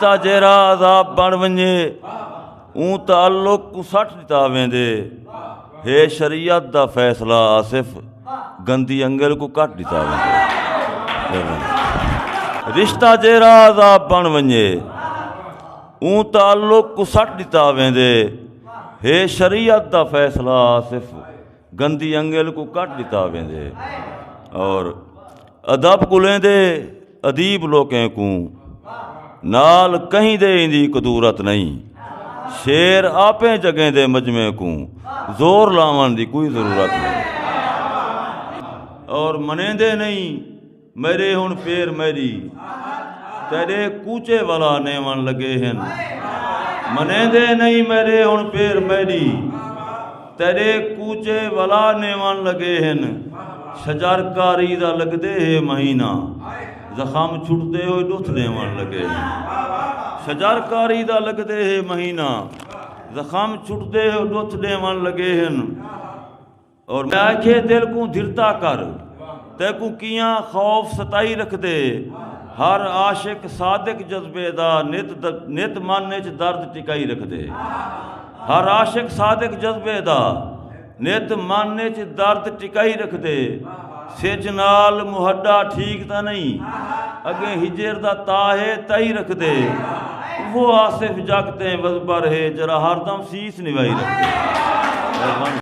دا جیرا عذاب بن ونجے اون تعلق کو سٹ دتا ویندے ہے شریعت دا فیصلہ آصف گندی انگل کو کٹ دتا ویندے رشتہ جیرا عذاب بن ونجے اون تعلق کو سٹ دتا ویندے ہے شریعت دا فیصلہ آصف گندی انگل کو کٹ دتا ویندے اور ادب کلیں دے ادیب لوکیں کو نال کہیں دے اندی قدورت نہیں شیر آپیں جگہیں دے مجمے کو زور لاون دی کوئی ضرورت نہیں اور منیں دے نہیں میرے ہن پیر میری تیرے کوچے والا نیون لگے ہن منے دے نہیں میرے ہن پیر میری تیرے کوچے والا نیون لگے ہن شجر کاری دا لگ دے ہے مہینہ زخم چھٹ دے ہوئے دوتھ نیون لگے ہن شجر کاری دا لگ دے ہے مہینہ زخم چھٹ دے ہوئے دوتھ نیون لگے ہن اور میں آکھیے دل کوں دھرتا کر تیکوں کیاں خوف ستائی رکھدے ہر عاشق صادق جذبے دا نت من اچ درد ٹکائی رکھدے ہر عاشق صادق جذبے دا نت من اچ درد ٹکائی رکھدے سج نال محڈا ٹھیک تاں نہیں اگے ہجر دا تاہے تائی رکھدے وہ آصف جگ تے وزبر ہے جرا ہر دم سیس نوائی رکھدے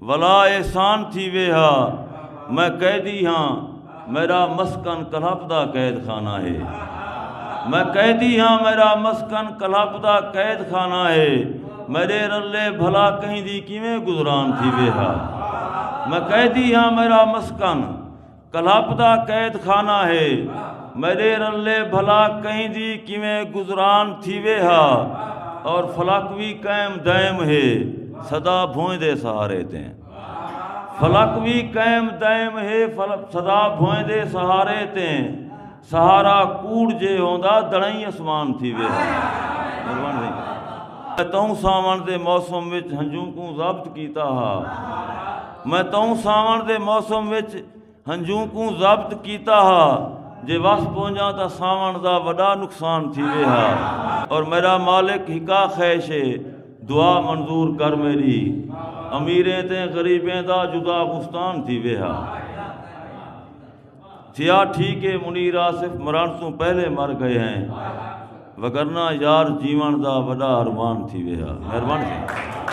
ولا احسان تھیوے ہا میں قیدی ہاں میرا مسکن کلہپ دا قید خانہ ہے میں قیدی ہاں میرا مسکن کلہپ دا قید خانہ ہے میرے رلے بھلا کہیں دی کیویں گزران تھی ویہا میں قیدی ہاں میرا مسکن کلپ دا قید خانہ ہے۔ میڈے رلے بھلا کہیں دی کیویں گزران تھیوے ہا اور فلک وی قائم دائم ہے سدا بھوئیں دے سہارے تے فلک وی قائم دائم ہے سدا بھوئیں دے سہارے تے سہارا کوڑ جے ہوندا دڑائیں اسمان تھی ویہا توں ساون دے موسم وچ ہنجوں کوں ضبط کیتا ہا میں توں ساون دے موسم وچ ہنجوں کوں ضبط کیتا ہا جے وس پونجا تا ساون دا وڈا نقصان تھی وے ہا اور میرا مالک ہکا خیش ہے دعا منظور کر میری امیریں تے غریبیں دا جدا گستان تھی وے ہا تھیا ٹھیک اے منیر آصف مرݨ توں پہلے مر گئے ہیں وگرنہ یار جیوݨ دا وݙا ارمان تھی ویہا مہربانی ساں